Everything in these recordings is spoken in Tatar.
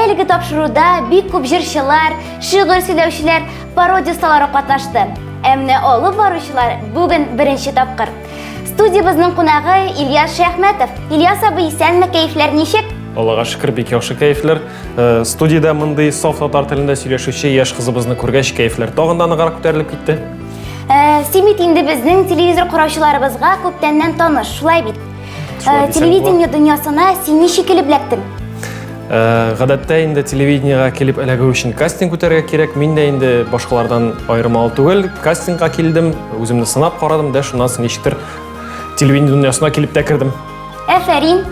Әлеге тапшыруда бик күп җырчылар, шигырь сөйләүчеләр, пародисталары катнашты. Ә менә алып баручылар бүген беренче тапкыр. Студиябезнең кунагы Ильяс Шәхмәтов. Ильяс абый исәнме, кәефләр ничек? Аллага шөкер, бик яхшы кәефләр. Э, студиядә мондый саф татар телендә сөйләшүче яшь кызыбызны күргәч, кәефләр тагын да ныграк күтәрелеп китте. Ә, син бит инде безнең телевизор караучыларыбызга күптәннән таныш, шулай бит? Ә, телевидение дөньясына син ничек килеп эләктең? Ә, гадәттә инде телевидениега килеп эләгү өчен кастинг үтәргә кирәк. Мин дә инде башкалардан аермалы түгел. Кастингка килдем, үземне сынап карадым да шуннан соң ничектер телевидение дөньясына килеп тә кердем. Әфәрин!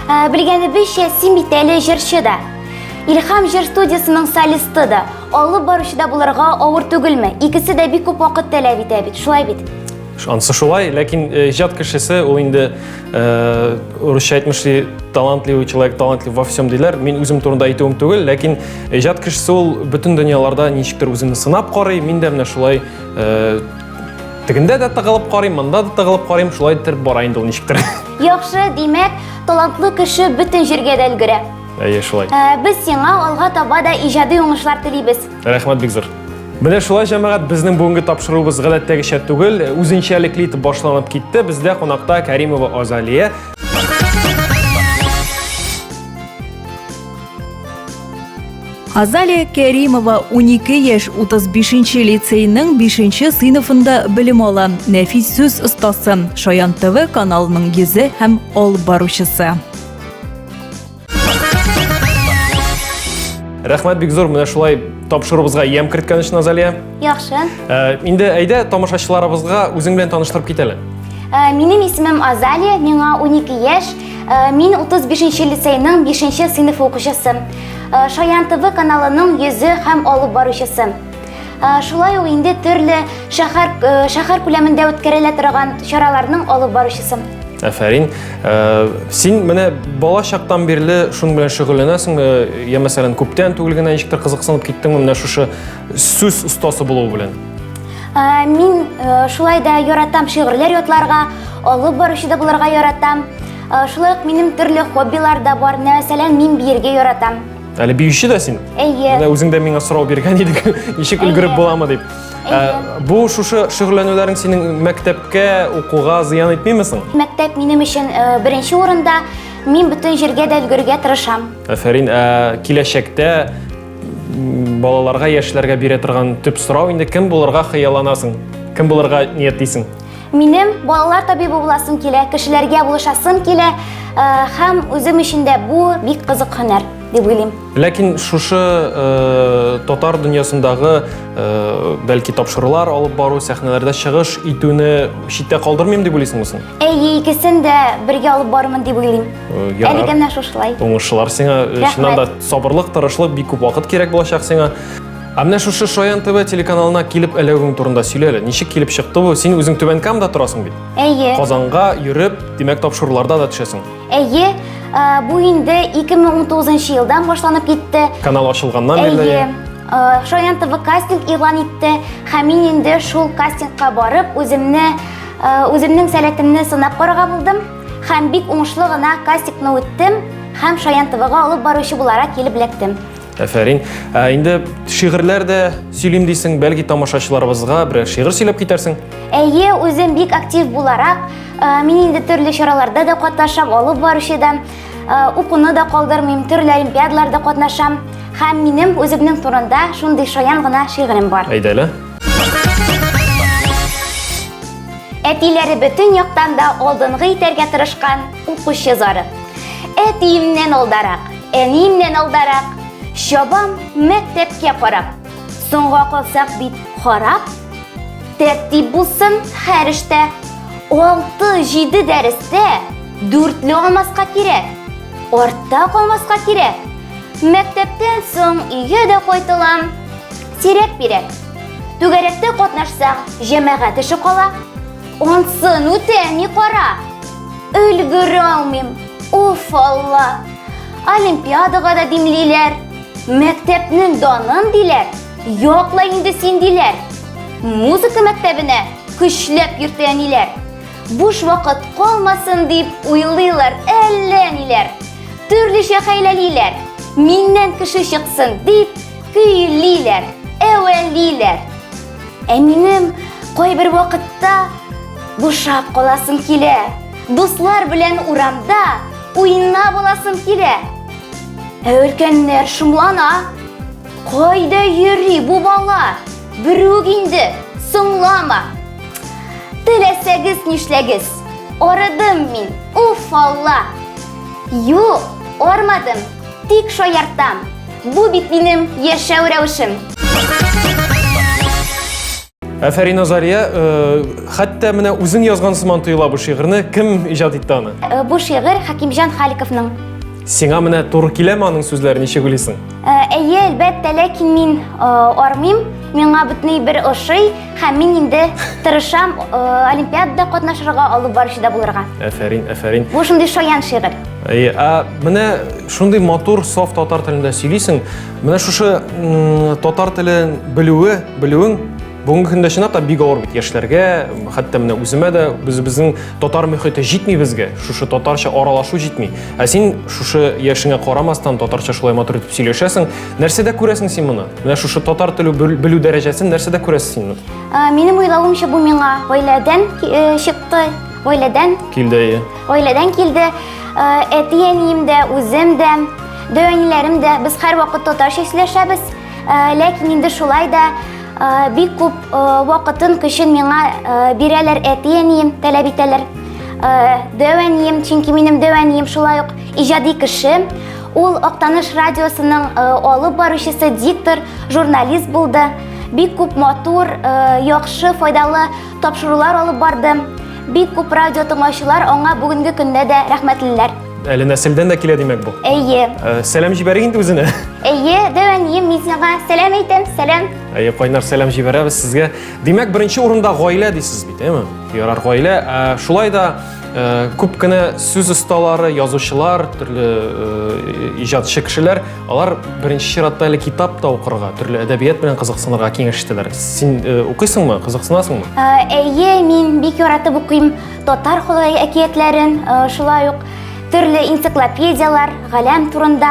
Ә, Белгәнебезчә, син бит әле җырчы да. Илһам җыр студиясенең солисты да, алып баручы да булырга авыр түгелме? Икесе дә бик күп вакыт таләп итә бит, шулай бит? Ансы шулай, ләкин э, иҗат кешесе ул инде э, русча әйтмешли талантливый человек талантлив во всем диләр. Мин үзем турында әйтүем түгел, ләкин иҗат кешесе ул бөтен дөньяларда ничектер үзен сынап карый. Мин дә менә шулай э, тегендә дә тыгылып карыйм, монда да тыгылып карыйм, шулай итеп бара инде ул ничектер. Яхшы, димәк, талантлы кеше бөтен җиргә дә өлгерә. Әйе, шулай. Ә, без сиңа алга таба да иҗади уңышлар телибез. Рәхмәт бик зур. Менә шулай җәмәгать безнең бүгенге тапшыруыбыз гадәттәгечә түгел, үзенчәлекле итеп башланып китте. Бездә кунакта Кәримова Азалия. Азалия Кәримова 12 яшь 35 лицейның 5 сыйныфында белем ала. Нәфис сүз остасы, Шаян ТВ каналының йөзе һәм алып баручысы. Рәхмәт бик зур, менә шулай тапшыруыбызга ямь керткән өчен Азалия. Яхшы. Э, инде әйдә тамашачыларыбызга үзең белән таныштырып кит әле. Э, минем исемем Азалия, миңа 12 яшь. Э, мин 35-нче лицейның 5-нче сыйныф укучысы. Шаян ТВ каналының йөзе һәм алып баручысы. Ә, шулай ук инде төрле шәһәр э, шәһәр күләмендә үткәрелә торган чараларның алып баручысы. Әфәрин. Ә, син менә бала чактан бирле шуның белән шөгыльләнәсең, ә, я мәсәлән, күптән түгел генә ничектер кызыксынып киттеңме менә шушы сүз остасы булу белән? Ә, мин э, шулай да яратам шигырьләр ятларга, алып баручы да булырга яратам. Ә, шулай ук минем төрле хоббилар да бар. Мәсәлән, мин биергә яратам. Әле биюче дә син? Әйе. Менә үзең дә миңа сорау биргән идең, ничек өлгереп буламы дип. Ә, бу шушы шөгыльләнүләрең синең мәктәпкә, укуга зыян итмиме соң? Мәктәп минем өчен э, беренче урында. Мин бөтен җиргә дә өлгергә тырышам. Афәрин, ә киләчәктә балаларга, яшьләргә бирә торган төп сорау инде кем булырга хыялланасың? Кем булырга ниятлисең? Минем балалар табибы буласым килә, кешеләргә булышасым килә э, һәм үзем өчен дә бу бик кызык һөнәр дип уйлыйм. Ләкин шушы э, татар дөньясындагы э, бәлки тапшырулар алып бару, сәхнәләрдә чыгыш итүне читтә калдырмыйм дип уйлыйсыңмы соң? Әйе, икесен дә бергә алып барырмын дип уйлыйм. Э, ярар. Әлегә менә шушылай. Уңышлар сиңа. Э, Рәхмәт. Чыннан да сабырлык, тырышлык, бик күп вакыт кирәк булачак сиңа. Ә менә шушы Шаян ТВ телеканалына килеп эләгүең турында сөйлә әле. Ничек килеп чыкты бу? Син үзең Түбән Камада торасың бит. Әйе. Казанга йөреп, димәк, тапшыруларда да төшәсең. Әйе, ә, бу инде 2019 елдан башланып китте. Канал ачылганнан бирле. Әйе. Ә, Шаян ТВ кастинг игълан итте һәм мин инде шул кастингка барып үземне ә, үземнең сәләтемне сынап карарга булдым һәм бик уңышлы гына кастингны үттем һәм Шаян ТВга алып баручы буларак килеп эләктем. Әфәрин. Ә инде шигырьләр дә сөйлим дисең, бәлки тамашачыларыбызга берәр шигырь сөйләп китәрсең? Әйе, үзем бик актив буларак, ә, мин инде төрле чараларда да катнашам, алып баручы да, ә, укуны да калдырмыйм, төрле олимпиадаларда катнашам. Һәм минем үземнең турында шундый шаян гына шигырем бар. Әйдә әле. Әтиләре бөтен яктан да алдынгы итәргә тырышкан укучы зары. Әтиемнән алдарак, Әниемнән алдарак, чабам мәктәпкә карап. Соңга калсак бит харап. Тәртип булсын һәр эштә. Алты, җиде дәрестә дүртле алмаска кирәк. Артта калмаска кирәк. Мәктәптән соң өйгә дә кайтылам. Сирәк бирәк. Түгәрәктә катнашсак, җәмәгать эше кала. Ансын үтә ни кара. Өлгерә алмыйм. Уф, Алла! Олимпиадага да димлиләр, мәктәпнең данын диләр, якла инде син диләр. Музыка мәктәбенә көчләп йөртә әниләр. Буш вакыт калмасын дип уйлыйлар әллә ниләр. Төрлечә хәйләлиләр. Миннән кеше чыксын дип көйлиләр, әвәлиләр. Ә минем кайбер вакытта бушап каласым килә. Дуслар белән урамда Уенна буласым килә. Ә өлкәннәр шомлана. Кайда йөри бу бала? Берүк инде соңлама. Теләсәгез нишләгез. Арыдым мин. Уф, Алла. Юк, армадым. Тик шаяртам. Бу бит минем яшәү рәвешем. Афәрин Азария, э, хәтта менә үзең язган сыман тоела бу шигырьне. Кем иҗат итте аны? Э, бу шигырь Хакимҗан Халиковның. Сиңа менә туры киләме аның сүзләре, ничек уйлыйсың? Э, әйе, әлбәттә, ләкин мин армыйм. Миңа бөтенләй бер ошый, һәм мин инде тырышам олимпиадада катнашырга, алып баручыда булырга. Афәрин, афәрин. Бу шундый шаян шигырь. Әйе, а менә шундый матур, саф татар телендә сөйлисең, Менә шушы татар телен белүе, белүең бүгенге көндә чынлап та бик авыр бит яшьләргә, хәтта менә үземә дә без безнең татар мөхите җитми безгә, шушы татарча аралашу җитми. Ә син шушы яшеңә карамастан татарча шулай матур итеп сөйләшәсең. Нәрсәдә күрәсең син моны? Менә шушы татар теле белү дәрәҗәсен нәрсәдә күрәсең син моны? Ә, минем уйлавымча бу миңа гаиләдән э, чыкты, гаиләдән. Килде. Гаиләдән килде. Э, әти-әнием дә, үзем дә Дәвәниләрем дә без һәрвакыт татарча сөйләшәбез, ләкин инде шулай да бик күп вакытын, көчен миңа бирәләр әти-әнием, таләп итәләр. Дәвәнием, чөнки минем дәвәнием шулай ук иҗади кеше. Ул Актаныш радиосының алып баручысы, диктор, журналист булды. Бик күп матур, яхшы, файдалы тапшырулар алып барды. Бик күп радио тыңлаучылар аңа бүгенге көндә дә рәхмәтлеләр. Әле нәселдән дә килә димәк бу. Әйе. Э, сәлам җибәрик инде үзенә. Әйе, дәвәнием мин сиңа сәлам әйтәм, сәлам. Әйе, кайнар сәлам җибәрәбез сезгә. Димәк, беренче урында гаилә дисез бит, әйме? Ярар, гаилә. Ә, э, шулай да ә, күп кенә сүз осталары, язучылар, төрле ә, иҗатчы кешеләр, алар беренче чиратта әле китап та укырга, төрле әдәбият белән кызыксынырга киңәш итәләр. Син ә, укыйсыңмы, кызыксынасыңмы? Әйе, мин бик яратып укыйм. Татар Ходай әкиятләрен, шулай ук төрле энциклопедияләр, галәм турында,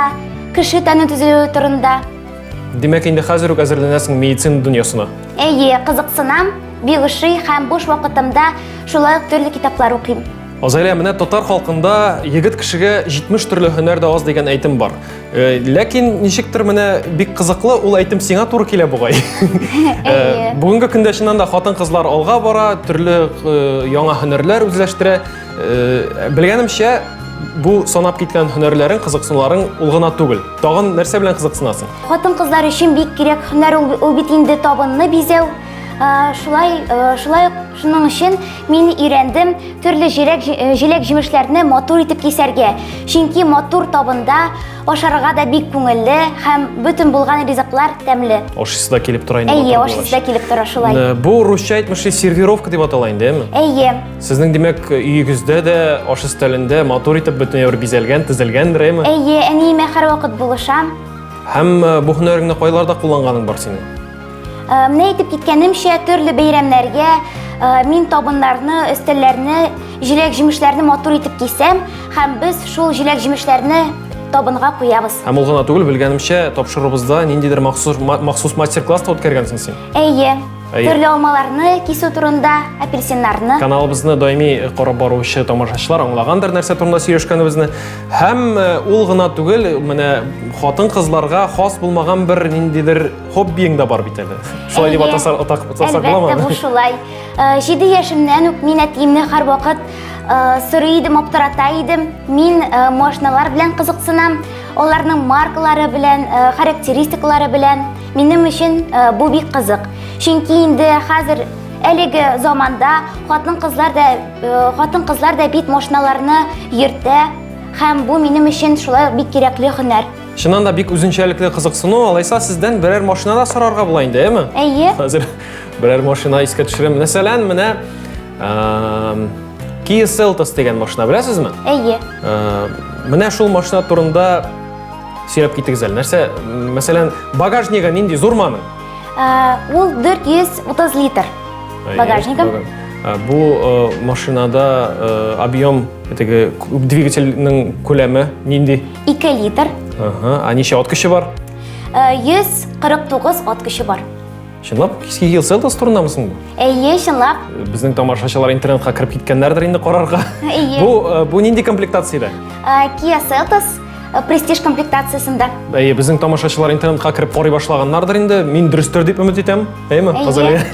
кеше тәне төзелүе турында. Димәк, инде хәзер үк әзерләнәсең медицина дөньясына. Әйе, кызыксынам, бик ошый һәм буш вакытымда шулай ук төрле китаплар укыйм. Азалия, менә татар халкында егет кешегә 70 төрле һөнәр дә аз дигән әйтем бар. Э, ләкин ничектер менә бик кызыклы ул әйтем сиңа туры килә бугай э, бүгенге көндә чыннан да хатын кызлар алга бара төрле э, яңа һөнәрләр үзләштерә белгәнемчә бу санап киткән һөнәрләрең кызыксынуларың ул гына түгел тагын нәрсә белән кызыксынасың хатын кызлар өчен бик кирәк һөнәр ул бит инде табынны бизәү Шулай, шулай шуның өчен мин өйрәндем төрле җиләк җиләк җимешләрне матур итеп кисәргә. Чөнки матур табында ашарга да бик күңелле һәм бөтен булган ризыклар тәмле. Ашыйсы да килеп тора инде. Әйе, ашыйсы да килеп тора шулай. Бу русча әйтмешли сервировка дип атала инде, әйеме? Әйе. Сезнең димәк, өегездә дә аш өстәлендә матур итеп бөтен бер бизәлгән, тезелгәндер, әйеме? Әйе, әниемә һәрвакыт булышам. Һәм бу һөнәреңне кайларда кулланганың бар синең? Э, менә әйтеп киткәнемчә, төрле бәйрәмнәргә э, мин табыннарны, өстәлләрне, җиләк-җимешләрне матур итеп кисәм һәм без шул җиләк-җимешләрне табынга куябыз. Һәм ул гына түгел, белгәнемчә, тапшыруыбызда ниндидер махсус махсус мастер-класс та үткәргәнсең син. Әйе. Төрле алмаларны кисү турында, апельсиннарны. Каналыбызны даими э, карап баручы тамашачылар аңлагандыр нәрсә турында сөйләшкәнебезне. Һәм ул гына түгел, менә хатын-кызларга хас булмаган бер ниндидер Хоббиең да бар бит әле. Шулай дип атасар атак атасак буламы? Әлбәттә, бу шулай. 7 э, яшемнән үк мин әтиемне һәрвакыт э, сорый идем, аптырата идем. Мин э, машиналар белән кызыксынам, аларның маркалары белән, характеристикалары белән. Минем өчен бу бик кызык. Чөнки инде хәзер әлеге заманда хатын-кызлар да хатын-кызлар да бит машиналарны йөртә һәм бу минем өчен шулай бик кирәкле һөнәр. Чыннан да бик үзенчәлекле кызыксыну, алайса сездән берәр машина да сорарга була инде, әйеме? Әйе. Хәзер берәр машина искә төшерәм. Мәсәлән, менә Kia Seltos дигән машина, беләсезме? Әйе. Менә шул машина турында сөйләп китегез әле. Нәрсә, мәсәлән, багажнигы нинди зур маның? Ул 430 литр багажнигым. Бу машинада объем, теге двигательнең күләме нинди? 2 литр. Ага, а ничә от көче бар? 149 э, от көче бар. Чынлап, Киел Селтос турындамы соң бу? Әйе, э, чынлап. Э, безнең тамашачылар интернетка кереп киткәннәрдер инде карарга. Әйе. Бу бу нинди комплектациядә? Kia Seltos престиж комплектациясендә. Әйе, безнең тамашачылар интернетка кереп карый башлаганнардыр инде. Мин дөрестер дип өмет итәм. Әйеме, Азалия?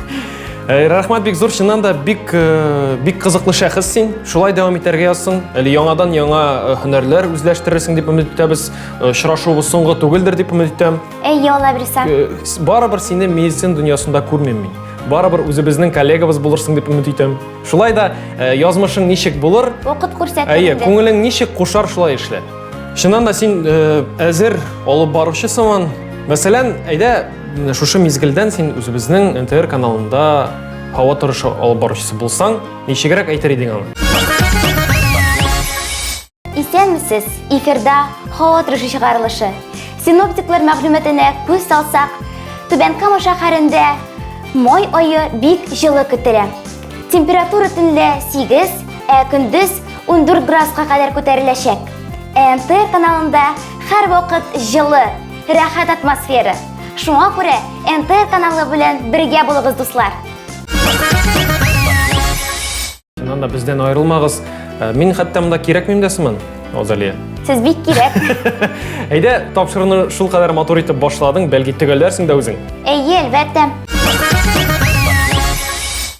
Э, рәхмәт бик зур, чыннан да бик э, бик кызыклы шәхес син. Шулай дәвам итәргә язсын. Әле яңадан яңа э, һөнәрләр үзләштерерсең дип өмет итәбез. Очрашуыбыз соңгы түгелдер дип өмет итәм. Әйе, ала бирсә. Барыбер сине медицина дөньясында күрмим мин. Барыбер үзебезнең коллегабыз булырсың дип өмет итәм. Шулай да язмышың ничек булыр? Вакыт күрсәтер. Әйе, күңелең ничек кушар, шулай эшлә. Чыннан да син әзер алып баручы сыман. Мәсәлән, әйдә Менә шушы мизгелдән син үзебезнең НТР каналында һава торышы алып баручысы булсаң, ничегрәк әйтер идең аны? Исәнмесез! Эфирда һава торышы чыгарылышы. Синоптиклар мәгълүматына күз салсак, Түбән Кама шәһәрендә май айы бик җылы көтелә. Температура төнлә 8, ә көндез 14 градуска кадәр күтәреләчәк. НТ каналында һәр вакыт җылы Рәхәт атмосфера. Шуңа күрә НТР каналы белән бергә булыгыз, дуслар. Шуннан да бездән аерылмагыз. Э, мин хәтта монда кирәкмим дә сыман, Азалия. Сез бик кирәк. Әйдә, тапшыруны шул кадәр матур итеп башладың, бәлки төгәлләрсең дә үзең. Әйе, әлбәттә.